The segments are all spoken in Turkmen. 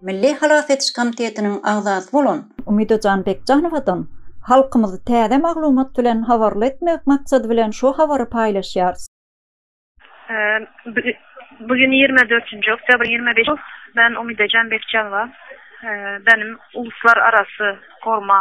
Milli halas ediş komitetiniň agzasy bolan Umyda Janbekjanowadan halkymyzy täze maglumat bilen habarly etmek maksady bilen şu habary paýlaşýarys. Bu gün ýigrimi dördünji oktýabr ýigrimi beş men Umyda Janbekjanowa benim uluslararasy gorma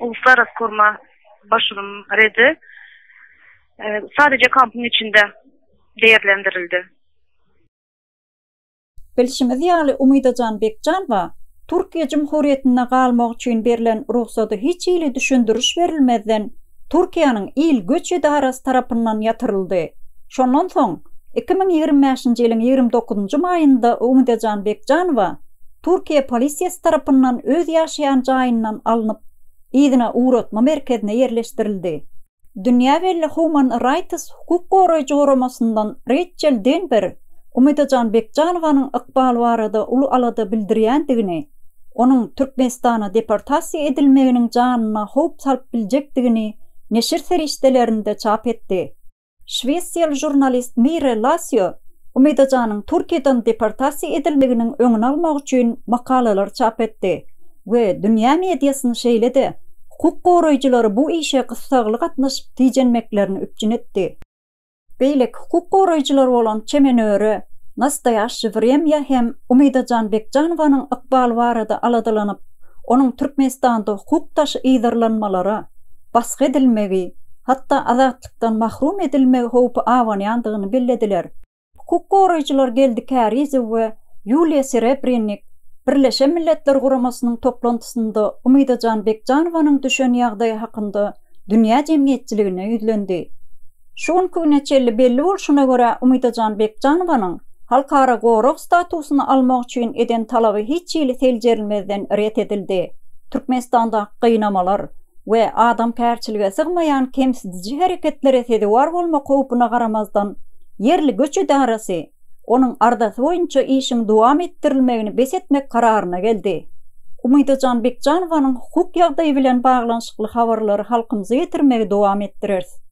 uluslararası korma başylym redi sadece kampyň içinde deýerlendirildi. Bilşimiz ýaly, Umydajan Bekjanowa Türkiýe Jumhuriýetinde galmak üçin berlen rugsady hiç hili düşündiriş berilmezden Türkiýäniň il göç edarasy tarapyndan ýatyryldy. Şondan soň, iki müň ýigrimi bäşinji ýylyň ýigrimi dokuzynjy maýynda Umydajan Bekjanowa, Türkiýe polisiýasy tarapyndan öz ýaşaýan jaýyndan alnyp, yzyna ugratma merkezine ýerleşdirildi. Dünýä belli Human Rights hukuk goraýjy guramasyndan Reýçel Denber Umydajan Bekjanowanyň ykbaly barada uly alada bildirýändigini, onuň Türkmenistana deportasiýa edilmeginiň janyna howp salyp biljekdigini neşir serişdelerinde çap etdi. Şwesiýaly žurnalist Mire Lasio Umidajanyň Türkiýeden deportasiýa edilmeginiň öňüni almak üçin makalalar çap etdi we dünýä mediasyny şeýle-de hukuk goraýjylary bu işe gyssagly gatnaşyp tijenmeklerini üpjün etdi. Beýleki hukuk goraýjylar bolan Çemen Öre, Nastoýaşşi Wremýa hem Umidajan Bekjanowanyň ykbaly barada aladalanyp, onuň Türkmenistanda hukuk daşy yzarlanmalara, basgy edilmegi, hatda azatlykdan mahrum edilmegi howpy abanýandygyny bellediler. Hukuk goraýjylar Geldi Kärizow we Ýuliýa Serebrennik Birleşen Milletler Guramasynyň toplantysynda Umydajan Bekjanowanyň düşen ýagdaýy hakynda dünýä jemgyýetçiligine ýüzlendi. Şu günki güne çenli belli bolşuna görä, Umydajan Bekjanowanyň halkara gorag statusyny almak üçin eden talaby hiç hili seljerilmezden ret edildi. Türkmenistandaky gynamalar we adamkärçilige sygmaýan kemsidiji hereketlere sezewar bolmak howpuna garamazdan, ýerli göç edarasy onuň arzasy boýunça işiň dowam etdirilmegini bes etmek kararyna geldi. Umydajan Bekjanowanyň hukuk ýagdaýy bilen baglanyşykly habarlary halkymyza ýetirmegi dowam etdireris.